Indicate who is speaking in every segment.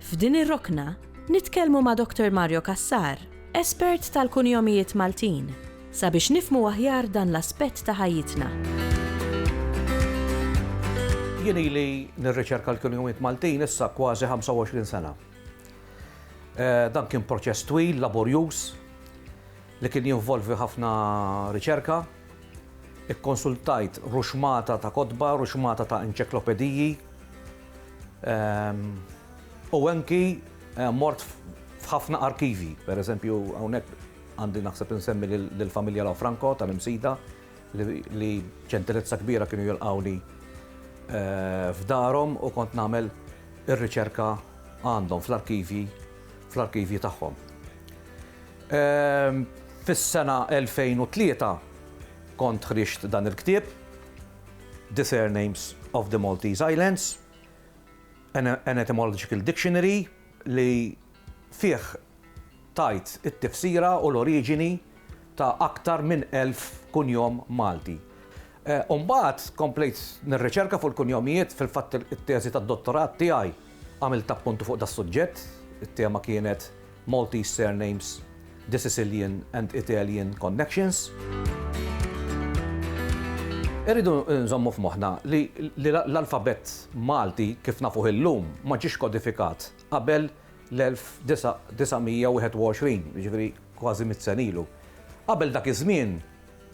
Speaker 1: F'din ir-rokna, nitkellmu ma' Doktor Mario Cassar, espert tal-kunjomijiet Maltin, sabiex nifhmu aħjar dan l-aspett ta' ħajjitna.
Speaker 2: Jien ili nirriċerka l-kunjomijiet Maltin issa kważi 25 sena. Dan kien proċess twil, laborjuż, li kien jinvolvi ħafna riċerka. Ikkonsultajt ruxmata ta' kotba, ruxmata ta' enċeklopediji, U anki eh, mort f'ħafna arkivi, per eżempju, hawnhekk għandi naħseb insemmi lill-familja La Franco tal-Imsida li ġentilezza kbira kienu jilqawni eh, f'darhom u kont nagħmel ir-riċerka għandhom fl-arkivji fl-arkivji tagħhom. Ehm, fis-sena 2003 kont ħriġt dan il-ktieb The Surnames of the Maltese Islands, An Etymological Dictionary, li fih tgħid it-tifsira u l-oriġini ta' aktar minn elf kunjom Malti. U mbagħad komplejt nirriċerka fuq il-kunjomijiet, fil-fatt it-teżi tad-dottorat tiegħi għamiltha appuntu fuq das-suġġett, it-tema kienet Maltese surnames, the Sicilian and Italian connections. Irridu nżommu f'moħħna li l-alfabett Malti kif nafuh illum ma ġiex kodifikat qabel l-1921, jiġifieri kważi mitt sena ilu. Qabel dak iż-żmien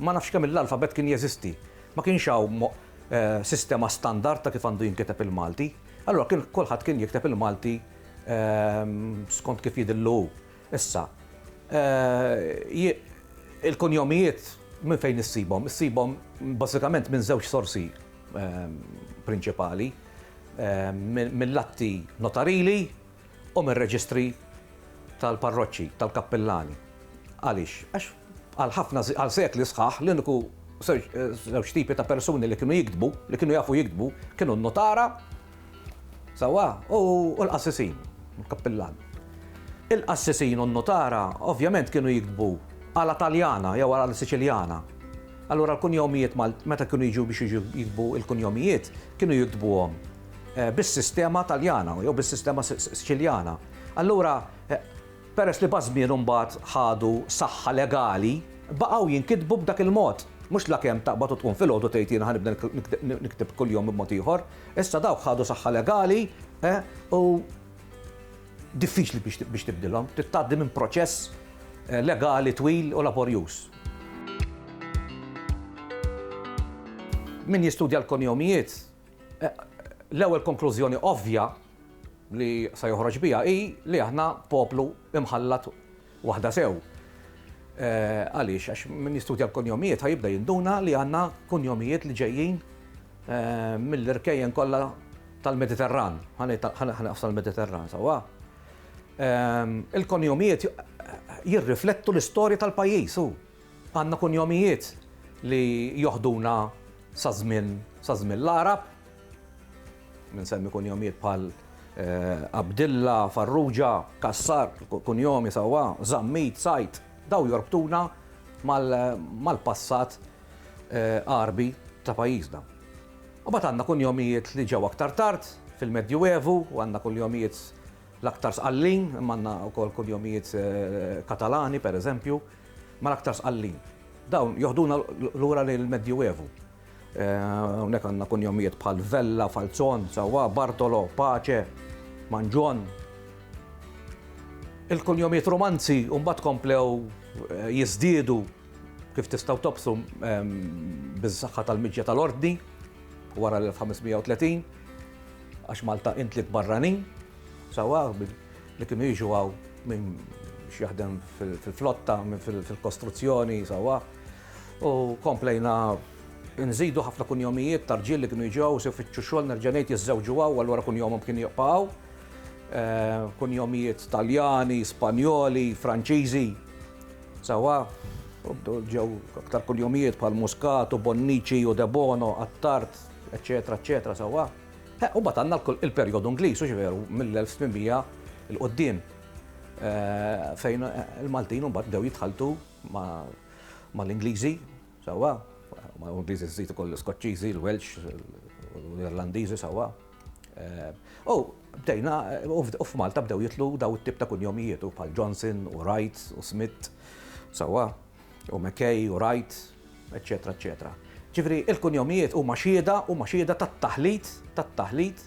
Speaker 2: ma nafx kemm l-alfabett kien jeżisti. Ma kienx hawn sistema standard ta' kif għandu jinkiteb il-Malti. Allura kien kulħadd kien jikteb il-Malti skont kif jidhirlu hu. Issa, il-kunjomijiet minn fejn issibhom? Issibhom bażikament minn żewġ sorsi prinċipali, mill-atti notarili u mir-reġistri tal-parroċċi, tal-kappillani. Għaliex? Għax għal ħafna, għal sekli sħaħ, l-uniku żewġ tipi ta' persuni li kienu jiktbu, li kienu jafu jiktbu, kienu n-notara Sewwa, u l-qassisin, il-kappillan. Il-qassisin u n-nutara ovvjament kienu jiktbu għala Taljana jew għala Siċiljana. Allura l-kunjomijiet Maltin, meta kienu jiġu biex jiġu jiktbu l-kunjomijiet, kienu jiktbuhom eh, bis-sistema Taljana jew bis-sistema Siċiljana. Allura eh, Peress li maż-żmien mbagħad ħadu saħħa legali, baqgħu jinkitbu b'dak il-mod. Mhux lakemm taqbad u tqum filgħodu tgħid jiena ħa nibda nikteb kuljum b'mod ieħor. Issa dawk ħadu saħħa legali u diffiċli biex tibdilhom, trid tgħaddi minn proċess legali twil u laborjuż. Min jistudja l-konjomijiet, l-ewwel konklużjoni ovvja li se joħroġ biha hi li aħna poplu imħallat waħda sew. Għaliex? Għax min jistudja l-kunjomijiet ħa jibda jinduna li għandna kunjomijiet li ġejjin mill-irkejjen kollha tal-Mediterran. Ħanqaf tal-Mediterran sewwa. Il-kunjomijiet jirriflettu l-istorja tal-pajjiż u għandna kunjomijiet li joħduna sa żmien l-Għarab, Insemmi kunjomijiet bħal Abdilla, Farrugia, Cassar, kunjomi sewwa, Zammit, Said, dawn jorbtuna mal-passat Għarbi ta' pajjiżna. Imbagħad għandna kunjomijiet li ġew aktar tard fil-Medjuevu u għandna kunjomijiet l-aktar sqallin, imma għandna wkoll kunjomijiet Katalani, pereżempju, ma l-aktar sqallin. Dawn joħduna lura lejn il-Medjuevu. Hawnhekk għandna kunjomijiet bħal Vella, Falzon, sewwa, Bartolo, Pace, Manġon. Il-kunjomijiet Rumanzi mbagħad komplew eh, jiżdiedu kif tistgħu tobsu ehm, biż-saħħa tal-miġja tal-ordni wara l-1530 għax Malta intlik barranin, sawa li kienu jiġu għaw minn xjaħdem fil-flotta, minn fil-kostruzzjoni, sawa. U komplejna nżidu ħafna kunjomijiet ta' rġiel li kienu jiġu hawn se jfittxu xogħol nerġa' ngħid jiżżewġu hawn allura kunjomhom kien jibqa' hawn. Eh, kunjomijiet Taljani, Spanjoli, Franċiżi. Sawa, ġew aktar kunjomijiet bħal Muscat u Bonnici u Debono, Attart, eċetera, eċetera, sawa. Eh, u bat għandna il-perjodu Ingliż, u ġveru, mill-1800 il-qoddim eh, fejn il-Maltin u bat dew jitħaltu ma' l-Ingliżi, sewwa, ma' l-Ingliżi żżid ukoll l-Iskoċċiżi, l-Welsh, l-Irlandiżi sewwa. U bdejna, u f'Malta bdew jidħlu dawn it-tip ta' kunjomijiet, u bħal Johnson, u Wright, u Smith, sewwa, u McKay, u Wright, eċċetera, eċċetera. Ġifieri l-kunjomijiet huma xhieda, huma xhieda tat-taħlit, tat-taħlit,